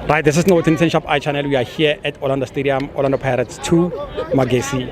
Right, this is Northern Ten Shop I channel. We are here at Orlando Stadium, Orlando Pirates 2, Magesi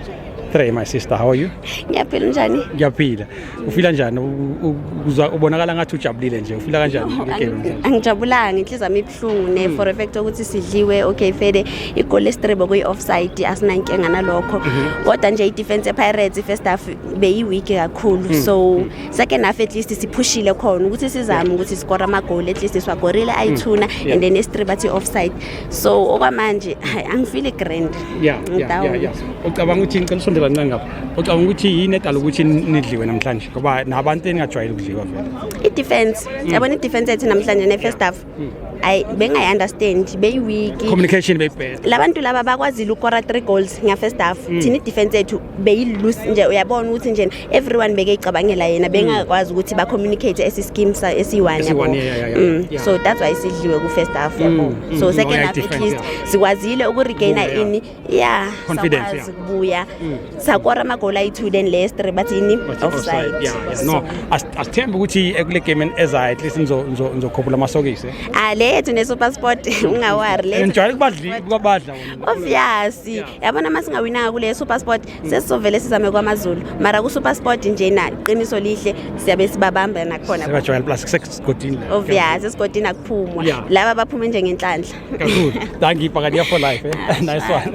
3. My sister, how are you? ngiyaphila njani Ngiyaphila. Ufila njani? U- u- uzwa- Ubonakala ngathi ujabulile nje. Ufila kanjani? No, Ngeke angi- nje. angijabulanga inhliziyo yami ibuhlungu ne for a fact ukuthi sidliwe okay fede igoli esitribo kuyi-offside asinankinga nalokho kodwa nje i-defense ye-pirates i-first half beyi-weak kakhulu so second half at least siphushile khona ukuthi sizame ukuthi sikore amagoli at least siwagorile hmm. ayithuna yeah. and then esitre bathi offside so okwamanje hayi angifili grand yeah, yeah, yeah, yeah. ucabanga ukuthi ngicela usondela ncane ngapha ucabanga ukuthi yini edala ukuthi nidliwe namhlanje ngoba nabantu eningajwayele ukudliwa vele i-defense hmm. yabona mm. i-defense yethu namhlanje ne-first half ayi bengayi-understand beyi-weak communication beyibheda labantu laba bakwazile ukora three goals ngafirst half mm. thina i-defense yethu beyi-loose nje uyabona ukuthi nje everyone bekeyicabangela yena mm. bengakwazi ukuthi ba-communicate esischeme esiyi-one yabo mm. so that's why sidliwe ku-first half yabo so second half at least sikwazile ukuregaina ini ya Confidence, sakwazi yeah. kubuya sakora amagoli ayi-two then last three bathi yini offside Yeah, yeah. no as- asithembe ukuthi ekule game en- ezayo at least nizo- nizo- nizokhuphula amasokisi Ah, le yethu nesupersport ungawari le yethu ngijwayele kubadli- kubabadla wona. obvious yabona uma singawinanga kule supersport sesizovele sizame kwamazulu mara kusupersport njena qiniso lihle siyabe sibabamba nakhona sebajwayele plus kusesigodini la. obvious esigodini akuphumwa Yeah. laba baphume njengenhlanhla Kakhulu. Dankie Pakadia for life. Eh? Ah, nice one.